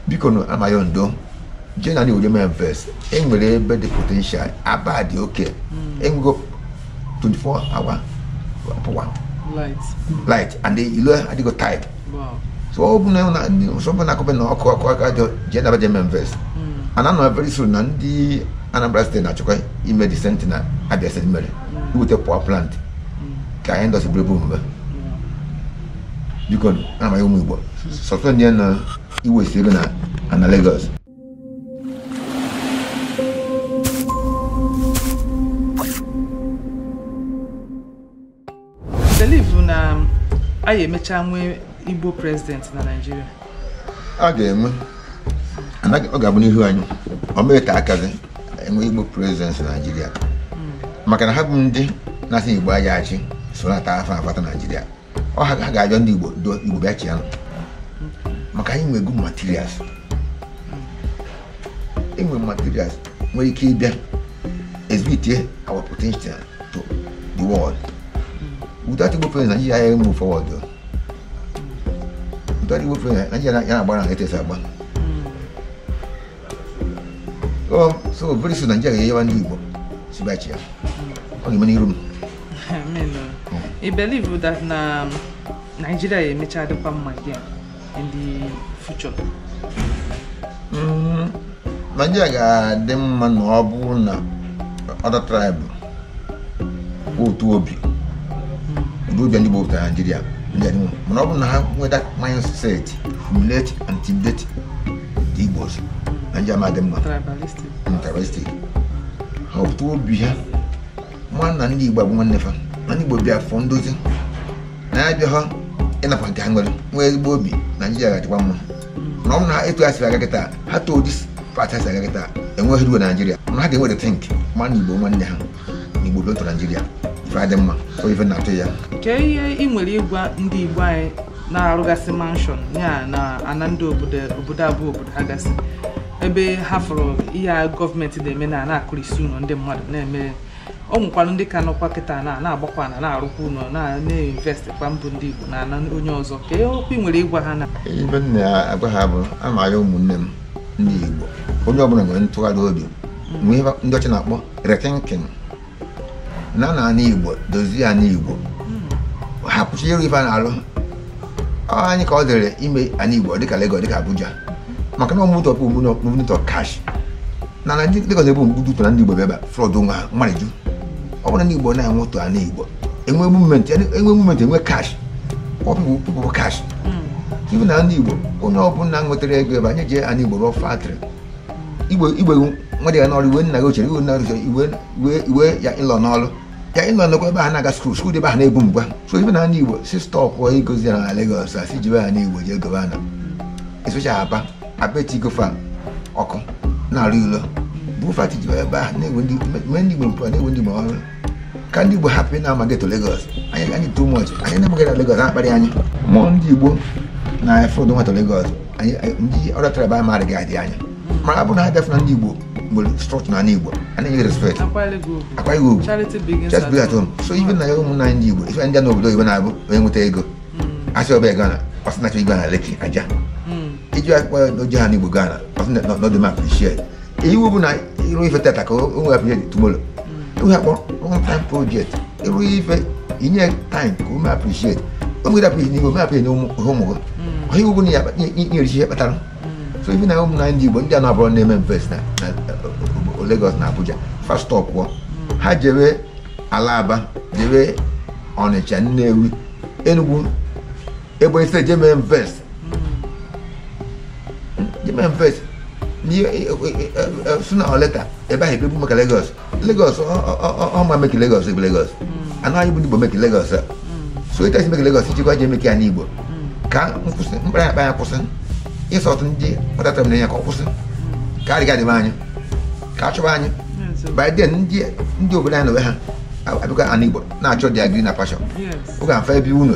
biko na a m ayọ ndị Igbo generally we remain invest enwere ebe dị potential aba dị okay enwego 24 hour power light. light and the ilo adịgo type Wow. so ọ bụ na na- so ọ bụ na akọbe na ọkụ ọkụ aka dị je na remain invest Mm. and I know very soon na ndị anambra steeti na-achọkwa ime the same thing na abia steeti mere iweta power plant ka industry boom biko a m ayọ ụmụ Igbo stop nụ na invest ego na ana Lagos believe na anyị emecha nwee Igbo president na Naịjirịa a ga-enwe anaghị- ọ ga-abụ n'ihu anyị ọ mee ka a gazị enwe igbo president naijiria maka na ha bụ ndị na-asị igbo aya achị so na ata afọ afata naijiria ọ ha ha ga-ayọ ndị igbo ndị igbo bịa chịa nụ maka anyị nwego materials enwe materials nwere ike ịbịa exhibit our potential to the world without igbo president naijiria aya move forward o. Without Igbo president Nigeria ya na-agba na etu o si agba. Oh, so very soon Nigeria ga-ayọwa ndị Igbo sị bịa chịa. Ọ ga-eme n'iru m. I believe that na um, Nigeria emecha dịkwa mma again in the future. Mm. Naịjirịa ga-adị mma na ọ bụrụ na other tribe bu otu obi ụdị obi ndị Igbo bu to Naịjirịa mana ọ bụrụ na ha nwee that mindset humiliate and intimidate the Igbos Naịjirịa ama adị mma tribalistic ha otu obi ha ma na ndị igbo bụ nwanne fa na ndị igbo bịa for ndozi na ya abịaha ịnakwa nke ha nwere nwee ezigbo obi naijiria ga-adịkwa mma na ọ bụ na etu ha siri aga kịta ha to this path ha siri aga kịta enweghị ruo naijiria na ha ga-enwe rethink ma na igbo nwanne ha na igbo bịa otu naijiria ife adị mma so ife na-atụ ya kee ihe ị nwere ịgwa ndị igbo anyị na-arụgasị mansion ya na ana ndị obodo abụhọ obodo ha gasị ebe ha fụrụ ihe a gọọmenti na-eme na na-akụrisi ụlọ ndị mmadụ na-eme ọ nwekwara ndị ka nọkwa kịta na na-agbakwa na na-arụkwa ụlọ na-invest kwa mbụ ndị Igbo na ana onye ọzọ kee okwu ị nwere ịgwa ha na ife m na-agwa ha bụ a m ayọ ụmụnne m ndị Igbo onye ọbụla nwere ntụgharị obi mgbe ihe ndị ọcha na-akpọ rethinking na ana igbo dozie ana igbo hapụchi iru ife na-alụ anyị ka ọ dịrị ime ana igbo dịka Lagos dịka Abuja maka na movement of movement of cash na na Lagos ebe mgbudutọ na ndị igbo bịaba flood nwa ha mmadụ ju ọ bụrụ ndị igbo na-enwe ụtọ ana igbo enwe movement enwe movement enwe cash people cash ibu na ndị igbo onye ọbụla nwetara ego ebe anyị jee ana igbo rụọ factory iwe iwe nwa dị ya n'ọrụ iwe nna gị ochie iwe nna gị ochie iwe iwe iwe your in-law n'ọrụ your in-law n'ọrụ ebe a na-aga school school dị ebe a na-ebu mgba so I beg una ndị igbo si stop igozi ana Lagos asị jewe ana igbo jee goba ana especially Aba Aba etigo fa ọkụ na-arụ ụlọ bụ factory jewe ebe a na-ewe ndị igbo mpụ na-ewe ndị igbo ọrụ ka ndị Igbo hapụ na-amaga to Lagos anyị anyị too much anyị na-amaghị na Lagos na-akparị anyị mụọ ndị Igbo na-e flood into Lagos anyị ndị ọrịa tara ebe anyị maara gị adị anya mana abụ na ha bịafụ na ndị Igbo nwere structure ana Igbo a na-enye respect akwaghị ugwu charity begins at home so I beg una ụmụnna anyị ndị Igbo ife ndị n'obodo Igbo na-abụ onye nweta ego hmm. asị ọ bịa go ana ọsị na-achọ igo na Lekki Ajah hmm. iji akpa o je ana Igbo go ana ọsị na ọ dị eme appreciate iwu bụ na ịrụ ife taata ka o mee appreciate tomorrow enweghị akpọ long time project ịrụ ife inye time ka o mee appreciate o nwere appreciate n'ihe o mee appreciate n'ụmụ ụmụ gị ọ iwu bụ na ya nyerisi ihe kpatara so ife na ụmụnna ndị Igbo ndị a na-abụrụ na-eme invest na na, uh, Lagos na Abuja fa stop ha jewe ala Aba jewe Ọnịcha Nnewi Enugu Ebonyi State je mee invest je mee invest sooner or later ebe ahụ ebebu maka Lagos Lagos ọ mmadụ make Lagos ebe Lagos ọ anyị bụ ndị Igbo make Lagos so ịta isi make Lagos ichekwa je make ana Igbo ka nkwụsị mkparị akpa ya kwụsị insult ndị kpatara na ya ka ọ kwụsị ka adịghị adịba anyị ka a chọba anyị by then ndị ndị obodo anyị na onwe ha abịakwa ana Igbo na-achọ the greener pasture oge afa ebe unu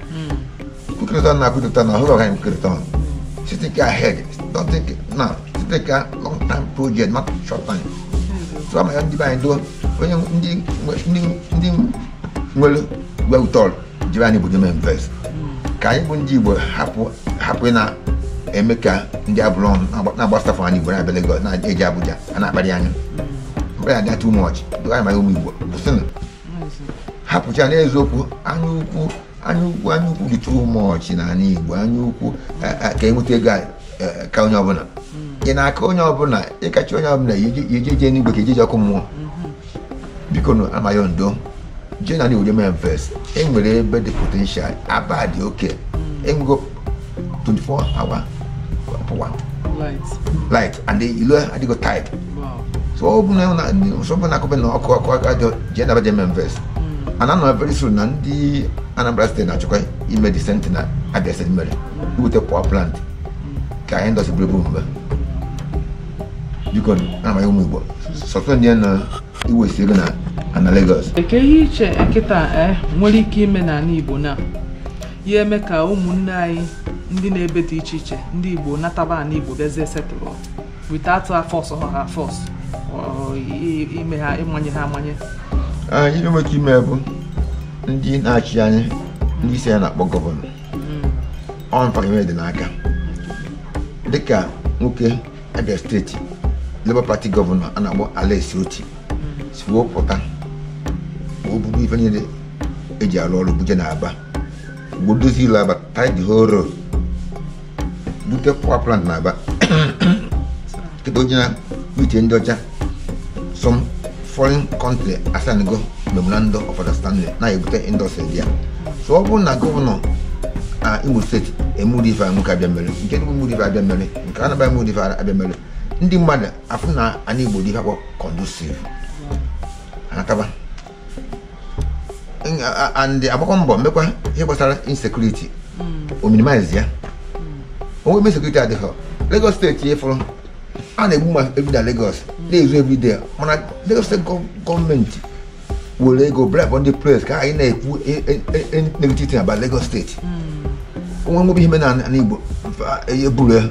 quick return na quick return na ọhụrụ ọgaghị quick return ọnụ think ahead don't think now think a long time project not short time so ana m ayọ ndị be anyị doo onye ndị nwe- ndị ndị nwere ego wete ọrụ jiri anyị obodo mee invest ka anyị bụ ndị igbo hapụ hapụ ị na-eme ka ndị abụrụ ọnụ na-agba- na-agbasafụ anyị igbo na-abịa Lagos na-eje Abuja a na-akparị anyị mgbe ya dị too much doo anyị ma ụmụ igbo kwụsịnụ hapụcha n'eziokwu anya ukwu anya ukwu anya ukwu dị too much n'ana Igbo anya ukwu e, e, ka enweta ego e, ka onye ọbụla ị na-aka onye ọbụla ịkacha onye ọbụla ị je-eje enigwe ka ị je-eje ọkụ mmụọ bikonu ana m ayọ ndo jee n'ana Igbo je mee invest enwere ebe dị potential Aba dị okay Enugu 24 hour power light and ilo adịgo tarred so ọ bụ na nsogbu na-akụbe na ọkụ ọkụ aka jọ jee n'Aba jee mee invest and I know very soon na ndị Anambra steeti na-achọkwa ime the same thing na Abia steeti mere iweta power plant ka anyị industry bụrụ ebe omume biko ana m ayọ ụmụ Igbo sọtụ ndị na-invest ego na ana Lagos eke ihe iche kịta nwere ike ime n'ala Igbo na ya eme ka ụmụnne anyị ndị na-ebe dị iche iche ndị Igbo nataba ana Igbo bịazie settle without ịforce ha force ime ha ịmanye ha amanye ihe nwere ike ime bụ ndị na-achị anyị ndị isi ya na-akpọ gọvanọ ọ fa ime dị n'aka dịka nwoke Abia steeti Labour Party gọvanọ a na-akpọ Alex Oti si wepụta obi buru ife niile eji arụ ọrụ buje na Aba bidozi ịlụ Aba tar the whole road bute power plant na Aba kịta oji na uche ndị ọcha some foreign country asanigo memorandum of understanding na-ebute industry there so ọ bụrụ na gọvanọ na Imo steeti emuru ife nwoke Abia mere nke Enugu emuru ife Abia mere nke Anambra emuru ife Abia mere ndị mmadụ afụ na ana Igbo dị ife akpọ conducive anataba and agbakwa mbọ mekwa ihe gbasara insecurity hmm. o minimize ya o nwe ebe insecurity adịghị Lagos steeti ị fụrọ a na-egbu mmadụ na Lagos hmm. na-ezu everyday mana Lagos steeti gọọmenti were ego bribe ndị press ka anyị na-ekwu e, e, e, negative thing about Lagos steeti hmm. o nwee nwa obere ihe mere na Igbo eburu ya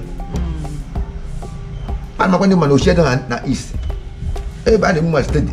a na-agwa ndị mmadụ ochie na East ebe a na-egbu ma steeti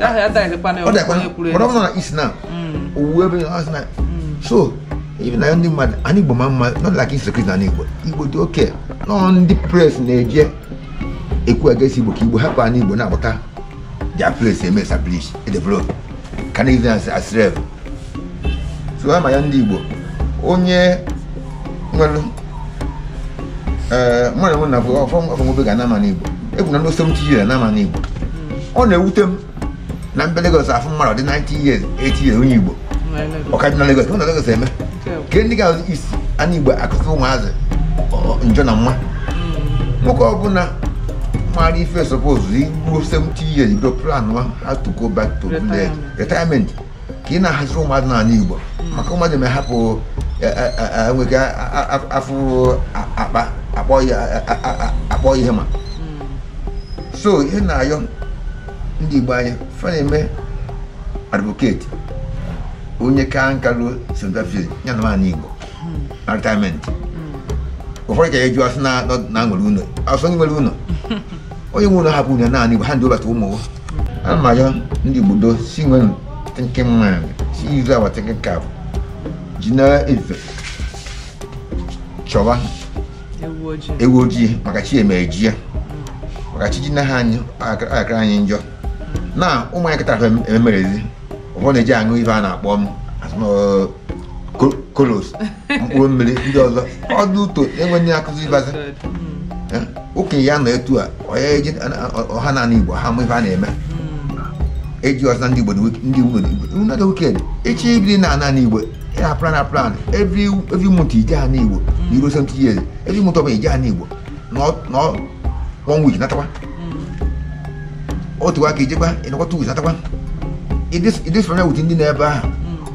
ọ bụrụ na East na owuwe ebe na so even na ndị mmadụ ana Igbo ma mma not like insecurity na Igbo Igbo dị oke nnọọ ndị press na-eje ekwu against Igbo ka Igbo hapụ ana Igbo na-agbata their place eme establish develop ka na-eji asịrị so ana m ayọ ndị Igbo onye nwere ee mmadụ nwere na bụ ọfọmọbe ga na-ama n'Igbo egwu na ndị 70 years na-ama n'Igbo ọ na-ewute m na m bịa Lagos afụ mmadụ dị 90 years 80 years onye Igbo ọ ka dị na Lagos na Lagos eme ka ndị ga isi ana Igbo akụkọ ụmụazị njọ na nwa nwoke ọbụla mara ife suppose ịbụ 70 years bido plan how to go back to village retirement ka ị na-ahaziri ụmụadụ n'ala Igbo maka ụmụazị ma hapụ e, e, e, nweke afụ akpa akpọ ihe ma so ihe na-ayọ ndị Igbo anyị fa na-eme advocate onye kaa nka ruo seventy five ya nọọ n'anị Igbo na retirement ụfọdụ ka ya eji asị na nwere ụlọ asọ nwere ụlọ onye nwe ụlọ hapụ ụlọ n'anị igbo ha ndị ụbata ụmụ ana m ayọ ndị igbo doo si nwenu thinking mind si use our thinking cap ji n'efifie chọwa ewu ojii maka chi emejie maka chi jinaha anyị akara anyị njọ na ụmụ anyị kịta ememerezi ụfọdụ na-eje aṅụ ife a na-akpọ em colos mkpụrụ mmiri ndị ọzọ ọdụ ụtọ enweghị ndị akụzi ịbazi okenye ya nọ etu a onye eji ọha n'anị igbo ha ma ife a na-eme eji ọzọ ndị igbo ndị igbo na igbo weekend echi ibiri n'anị igbo ị na-aplan na plan every every month i jee anị igbo na i ruo seventy years every month ọbụla i jee anị igbo nọọ one week natakwa otu a ka i jekwa ị nọkwa two weeks natakwa ị dị familiar with ndị nọ ebe ahụ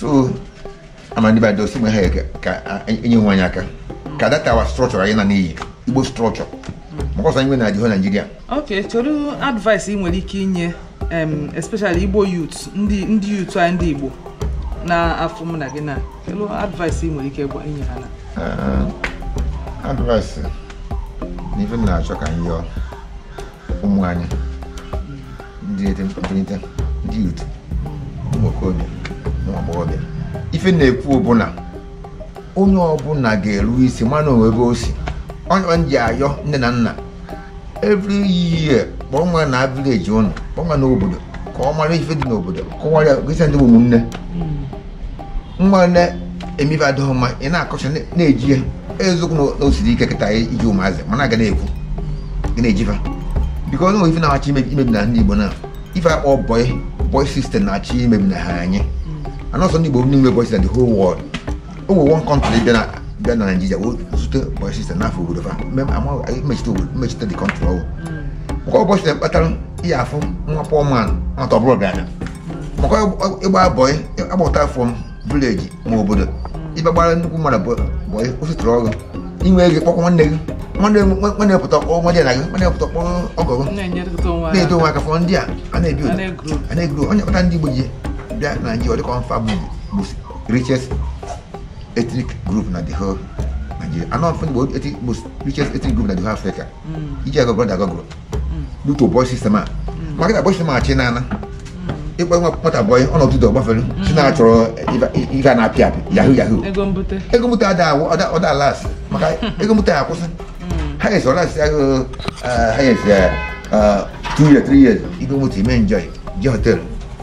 so ama ndị igbo doo si mgbe ha ga- ka a- enye nwe anyị aka ka dotawa structure anyị na n'anị igbo structure maka ọsọ anyị nwe na adịghị Nigeria ok kedu advice ị nwere ike inye em, especially igbo youth ndị ndị youth anyị ndị igbo na-afụ mụ na gị na kedu advice ị nwere ike gwa inye ha na Ah, advice na ife m na-achọ ka m yọọ ụmụ anyị ndị etemkpụlite ndị youth ụmụ okorobịa ụmụ agbọghọbịa ife na-ekwu bụ na onye ọbụla ga-eru isi ma na o nwe ebe o si ọ nya m ji ayọ nne na nna every year kpọọ nwa naa village ụnụ kpọọ nwa naa obodo ka ọ mara ife dị n'obodo kọwara gịsa ndị bụ ụmụnne nwa na-eme ife adịghị mma ị na-akọcha na-eji ya eziokwu na o siri ike kịta iji ụmụazị mana a ga na-ekwu gị na-eji fa biko o nwe ife na-achọ imebi na ndị Igbo na ife a kpọ boy boy system na-achọ imebinaha anyị na ọ sọ ndị Igbo nwe boy system the whole world o nwere one country bịa na bịa na Naịjirịa wee zute boy system n'afọ obodo fa m echete the country ọ wụ maka boy system kpatara i ji afụ nwa poor man nwata ọbụla bịa maka ịgba boy agbata from village ma obodo i bịa gbara nnukwu mmadụ boy o settle gị i nwee ego kpọkwa nwanne gị nwanne nwanne pụta kpọọ nwadịana gị nwanne pụta kpọọ ọgọ gị na-eto onwe aka fọ ndị a a na-ebi otu a na-egrow ọ nya kpata ndị Igbo ji bịa na Naịjirịa dịka ọ nfa bụ richest ethnic group na the whole Nigeria. Na ọ nfa bụ richest ethnic group na the whole Africa. I je agoogle na Google. butu boy system a maka na boy system a chi na a na-akpọ nwa nwata boy ọ nọtụtụ ọgbafere si na achọrọ ife a na-apị apị yahoo yahoo ego mbute ego mbute ada awụ ọ da alast maka ego mbute akwụsị highest ọ lastịa gị highest two years three years i bu moto i me enjoy je hotel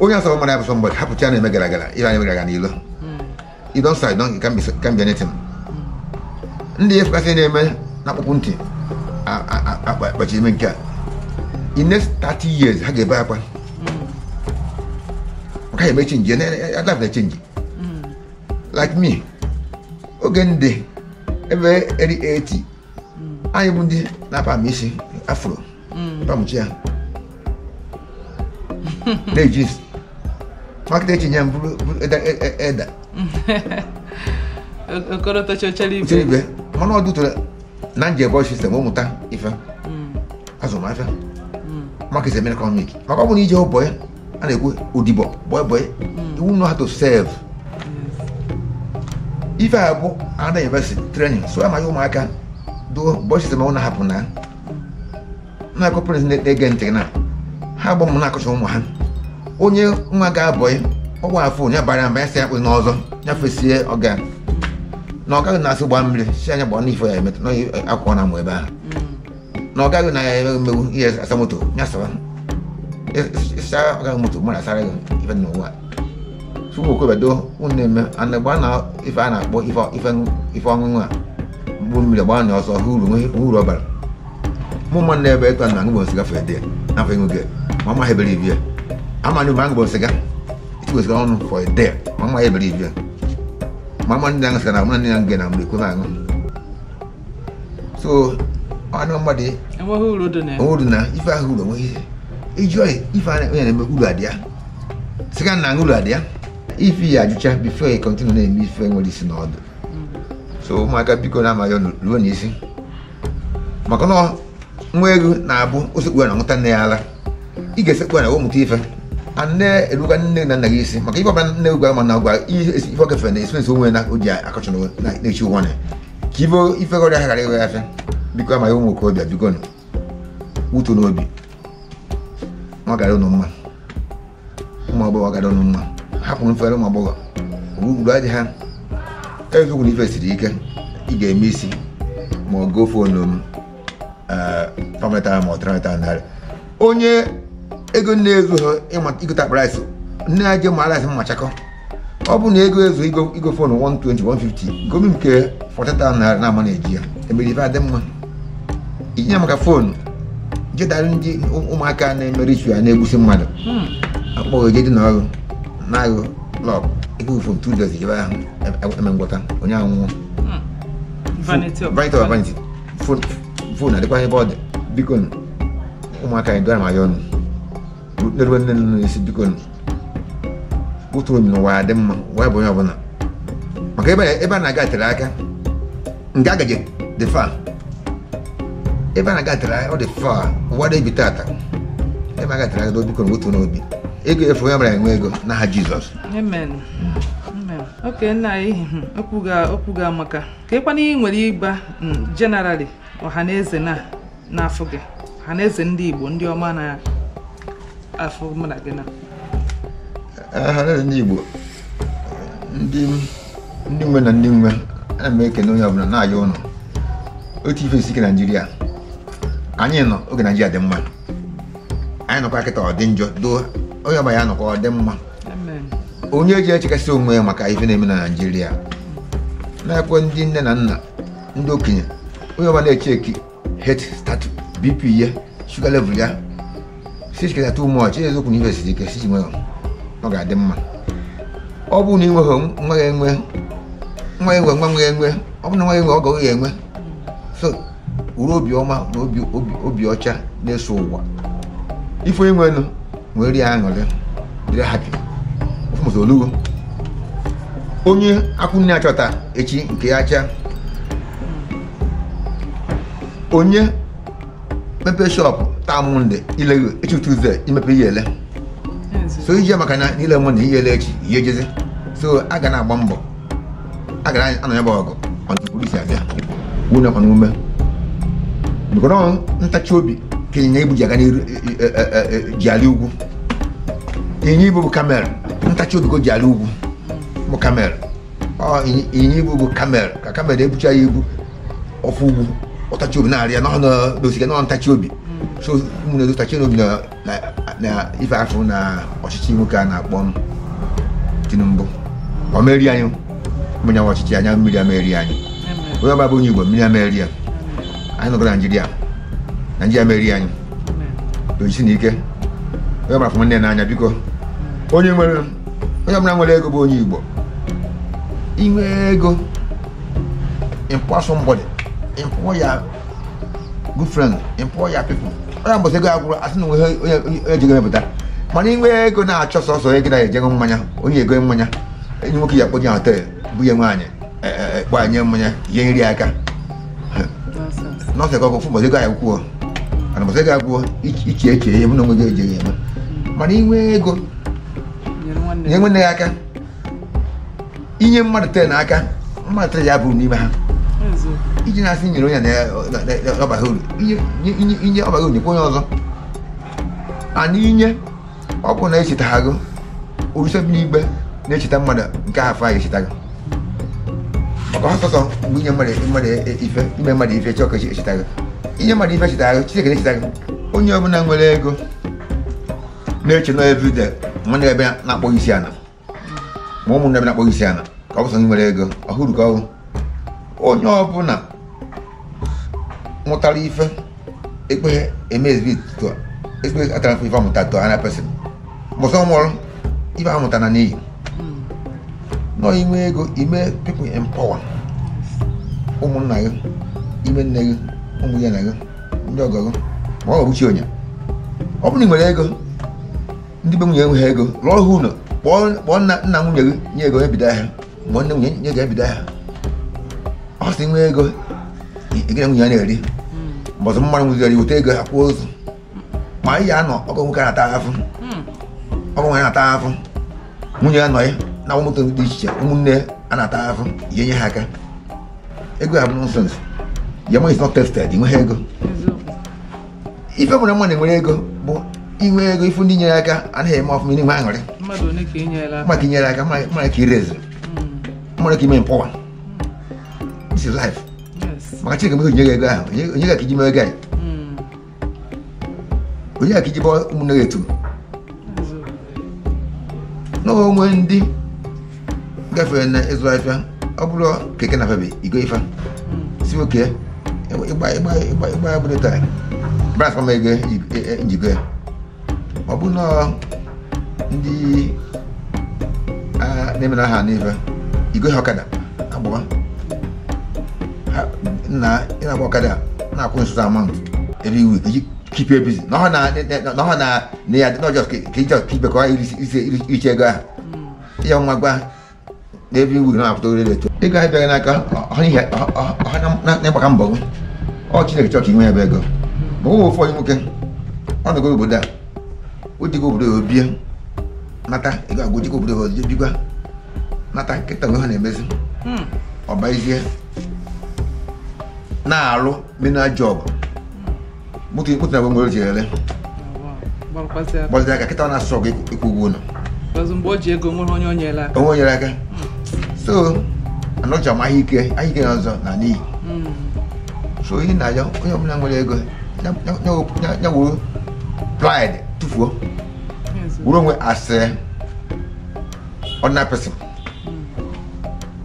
onye asọrọ mmadụ abụ somebody hapụcha ya na-eme gara gara ịra anyị gara n'ilo you don't say you can be can be anything ndị ya efekasị na-eme na-akpọpu ntị a- a- a- akpa- akpachi ime nke a in next 30 years ha ga-ebe akwa maka ya eme change life na-change like me oge ndị ebe early 80 anyị bụ ndị na-aperm isi afro permchie ya na-eji ma kịta e chinye m bụrụ elder okorotochochere mana ọ dụtara na nje boy system m mụta ife azụmahịa maka is a mere economic maka ọ bụrụ na ije boy a na-ekwu odibo boy boy you know how to serve ife a bụ university training so a m ayọ ụmụaka do boy system a ụnụ hapụ na na-akọ parents na-ege ntị na ha gbọ m na-akọcha ụmụ ha onye nwa gaa boy ọ gbaa afọ onye bara mba ya si akpụ n'ọzọ ya fesie ọga na ọga gị na-asị gbaa mmiri si anya gbaa n'ife ya emetụ na akwụkwọ na mụ ebe ahụ na ọga gị na ya emeghị mmegbu ihe asa moto ya sara ị sa ọga gị moto mmadụ asara gị ife n'ụwa tupu okobedo unu na-eme ana gba na ife a na-akpọ ife ife ife ọṅụṅụ a mkpụrụ mmiri gbaa na ọsọ hụ uru nwe- hụ uru ọ bara mụ mma na ebe etu a na aṅụbu sịga for a day n'afọ ego gị ma mma ha ebere ibi ya ama na ebe aṅụbu sịga itigbo sịga ọnụ for a day ma mma ha ebere ibi ya ma mma ndị aṅụ sịga na mụ na ndị aṅụ gị na mgbe ekwe m aṅụ so ọnụ mmadụ enweghị uru dị na uru na ife ahụ uru onweghị ihe ịjụọ ife ahụ onye na-eme uru adị ya sịga na uru adị ya ife ya ajụcha before ya continue na-eme ife nwere isi na ọdụ so ụmụaka biko na a m ayọ ụnụ ruo nụ isi maka na nwa ewu na-abụ o sekpu ana ṅụta nne ya ala ị ga-esekpu ana we mụta ife a na-eruga nne na nna gị isi maka ife ọbụla nne gwa ma nna gwa ị ife ọ gafere na experience o nwe na o ji akọchọ na-echi ụwa na ka ibe ife ọrịa ha ghara iwe ya afịa biko a m ayọ ụmụ okorobịa bikonụ wetuonụ obi ọ gara ụnụ mma ụmụ agbọghọ ọ gara ụnụ mma hapụrụ mfere ụmụ agbọghọ uru adị ya eziokwu na ife siri ike ị ga-eme isi ma ọ gụọ fonu m pameta ma ọ trameta narị onye ego na-ezuhọ igote akpa rice nne ya je ma rice mmachakọ ọ bụ na ego ezu igo igo fon 120 150 gomi nke 40,000 naira na-ama na iji ya emere ife dị mma ije maka fon je dara ndị ụmụaka na-eme ritual na-egbusi mmadụ akpọ gị jedị na ọrụ na-aghụ lọk ego fon two days je ebe ahụ eme ngwọta onye anwụọ Vanity of vanity of vanity fon adịkwa ebe ọ dị biko ụmụaka adị m ayọ ụnụ na-erube nne na nna isi biko wetuonụ obi n'ụwa ya dị mma ụwa bụ onye ọbụla maka ebe a na-aga tere aka nga a ga-eje dị far ebe a na-aga tere aka ọ dị far ụwa adị ebi tata ebe a ga tere aka biko wetuonụ obi oge eruo onye ọbụla enwe ego n'aha Jizọs Amen. Amen. Okay, nna anyị okwu gị amaka. kee ihe kwanụ ị nwere ịgwa generally ọhaneze na-afụ gị ọhaneze ndị igbo ndị ọma na-afụ mụ na gị na ọhaneze ndị igbo ndị nwe na ndị nwe ana m ekene onye ọbụla na-ayọ ụnụ otu ife isi ike naijiria anyị nọ oge naijiria dị mma anyị nọkwa kịta ọ dị njọ doo onye ọbụla ya nọkwa ọ dị mma onye ji echekasị onwe ya maka ife na-eme na naijiria na-ekwe ndị nne na nna ndị okenye onye ọbụla na-echeki health status BP ya sugar level ya sichiketa too much eziokwu na ife siri ike sichi nwere ọ ga-adị mma ọ bụrụ na ị nweghị nwa ya enwe nwa enwe nwa nwa enwe ọ bụrụ na nwa enwe ọgọ gị enwe so were obiọma na obi ọcha na-eso ụwa ife onye nwere were ya aṅụrị dịrị happy ọfụmụta olugo onye akwụ na-achahọ taa echi nke ya acha onye mepe shop taa Monday i leghị echi Tuesday i mepe i ya-ele so ije maka na ile mụ na i ya-ele echi i ya-ejezi so a ga na-agba mbọ a ga na-anụ ya bụ ọgụ ọdụkwuru isi abịa wunye ọkwa n'ume bikonụ ntachi obi ka ịnyịnya ibu ji aga n'iru ji alị ugwu ịnyịnya ibu bụ camel ntachi obi ka o ji alị ugwu bụ camel ịnyịnya ibu bụ camel ka camel na-ebucha ya ibu ọ fụ ugwu ọ tachi obi na-arị ya n'ọnụ n'osike n'ọnụ ntachi obi so ụmụnne tachi obi na na ife a fụ na ọchịchị nwoke a na-akpọ Tinubu ọ ma-eri anyị mmiri awa ọchịchị anya mmiri ama-eri anyị onye ọbụla bụ onye Igbo mmiri ama-eri ya anyị nọkọ na Naijiria Naijiria ama-eri anyị jisie nụ ike onye ọbụla fụrụ nne n'anya biko onye nwere onye ọbụla nwere ego bụ onye Igbo i nwe ego employ somebody employ ya good friend employ your people onye mbọsị ego agwụrụ asị na onwe onye eji ego mepụta mana inwe ego na-achọ sọsọ ego na-eje ego mmanya onye ego mmanya enyi nwoke ya kpọnye hotel bunye nwaanyị gbanye mmanya ihe nri aka nọọsụ ọgụ fụ mbọsị ego anyị kwuo mana mbọsị ego agwụọ iche eche ihe mụ na onwe gị ejighị eme mana inwe ego nye nwanne gị aka inye mmadụ ten aka mmadụ three ya bụrụ n'ime ha iji na-asị nyere onye na-abaghị uru inye ọbaghị uru nyekwa onye ọzọ and inye ọ bụrụ na echetaghị gị orisa bi n'igwe na-echeta mmadụ nke ahụ afọ a ga-echeta gị maka ha sọsọ mgbe inye mmadụ mmadụ ife ime mmadụ ife chọọ ka echeta gị inye mmadụ ife cheta gị Chineke na-echeta gị onye ọbụla nwere ego na-eche na everyday nwanne ebe na-akpọ isi ala ma ụmụnne m na-akpọ gị isi ala ka ọ bụ sọ ndị nwere ego ọhụrụ ka ọhụrụ onye ọbụla mụtara ife ekpeghị eme ezigbo etuto ezigbo atara ife amụta to another person mbọsị ọ nwụrụ ife amụta na n'iyi now inwe ego ime people empower ụmụnna gị ụmụnne gị ụmụ ya na gị ndị ọgọ gị ma ọ bụ chi onye ọ bụrụ na ị nwere ego ndị be nwunye enweghị ego lụọ ha ụlọ kpọọ nna nwunye gị nye ego ebido ahịa ma nne nwunye nye ego ebido ahịa ọ sị nwee ego gị na nwunye ya na-eri mbọsị mmadụ nwụziri e weta ego a kwaa ozu ma ị ya anọ ọgọ nwoke na-ata ahụhụ ọgọ nwaanyị na-ata ahụhụ nwunye ya na-anya moto dị iche iche ụmụnne a na-ata ahụhụ ya nye ha aka ego ahụ bụ nonsense your money is not tested nweghị ego ife mụrụ mmadụ nwere ego bụ inwe ego ịfụ ndị nyere aka na ha na-eme ọfụma n'inwe aṅụrị mmadụ one ka inyere aka mmadụ nyere aka mmadụ ka i raise mmadụ ka ị empower this is life maka chineke mgbe o nyere ego ahụ o nye gị ka iji mee ego anyị o nye gị ka iji bọ ụmụnne gị etu n'onwe ndị gafere na ịzụ afịa ọ bụrụ keke na febe igo ife sị okay ịgba ya bụrụ taa balance m ego m ji go ya ọ bụ na ndị na-emere aha n'ife igo ha ọkada agbawa na ịna-agba ọkada na-akwụ m so so amount every week keep you busy na ọ na na ya dị n'ọjọọ ka ka ịchọ ka ibekọ iricha ego ahụ ihe ọma gwa ha na every week na-apụta orire eto ego anyị bịaghị n'aka ọha n'ihi ọha na-agbaka mbọ gị ọ chineke chọọ ka inwe ya bụ ego ma ụmụ ụfọdụ nwoke ọ nọgo obodo a o jego obodo oyibo nata ego agwụ jego obodo ya ozie bikwa nata kịta onwe ha na-emezi ọbaizie na-arụ menial job moto moto na nwere ji ere gbazi aka kịta na-asụ ọgụ ịkwụ ụgwọ ụlọ mgbe o ji ego nwere onye onyere aka onwe onyere aka so anọcha m ahịa ike ahịa ike na ọzọ na n'iyi hmm. so ihe na-ayọ onye ọbụla nwere ego ya wuru pride tụfuo wuru onwe as ordinary person hmm.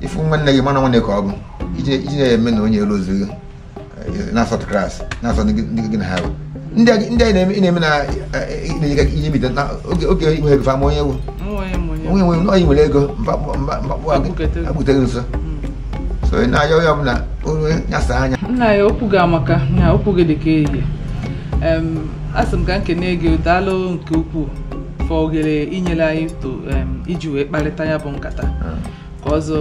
ị fụ nwanne gị ma na nwanne ka ọ bụ iji na-eme na onye elu ozi gị na-asọt class na-asọ ndị gị na ha bụ ndị anyị ndị anyị na-eme ị na-eme na na-enyega ihe bite na oge oge inwe ego fa ama onye wu onye nwe na onye nwere ego mkpakpụ agbutere nso so ị na-ayọ onye ọbụla onye nyasa anya nna ya okwu gị amaka na okwu gị dị ka ehihie a sị m ka m kene gị daalụ nke ukwuu for oghere i nyere anyị to iji wee kparịta ya bụ nkata ọzọ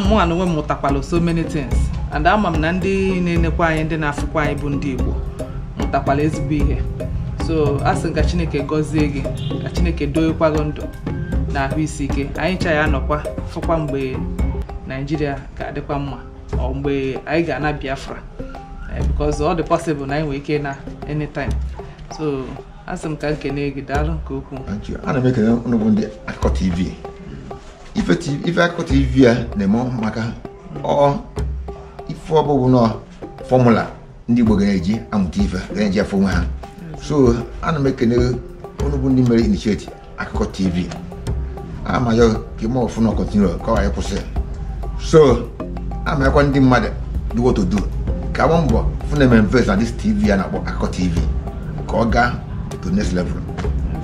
mụwa na onwe m mụtakwala so many things and ama m na ndị na-enekwa anyị ndị na-afụkwa anyị bụ ndị Igbo mụtakwala ezigbo ihe so a sị m ka Chineke gọzie gị ka Chineke doekwa gị ndụ na ahụ isi ike anyị ncha anọkwa fụkwa mgbe Naijiria ga-adịkwa mma or mgbe anyị ga-ana Biafra eh, because ọ dị possible na anyị nwere ike na anytime so a sị m ka m kene gị daalụ nke ukwuu Thank you. ana m ekene unu bụ ndị akụkọ tv ife ti- ife akụkọ tv a na-eme amaka ọ ife ọ bụ bụ na formula ndị igbo ga na-eji amụta ife ga na-eji afụ onwe ha so ana m ekene unu bụ ndị mere initiate akụkọ tv a ma-ayọ ka ime ọfụ na continue ka ọ ghara ịkwụsị so a ma-ayọkwa ndị mmadụ dị well to do ka a gbaa mbọ fụ na e mee invest na this tv a na-akpọ akụkọ tv ka ọ gaa to next level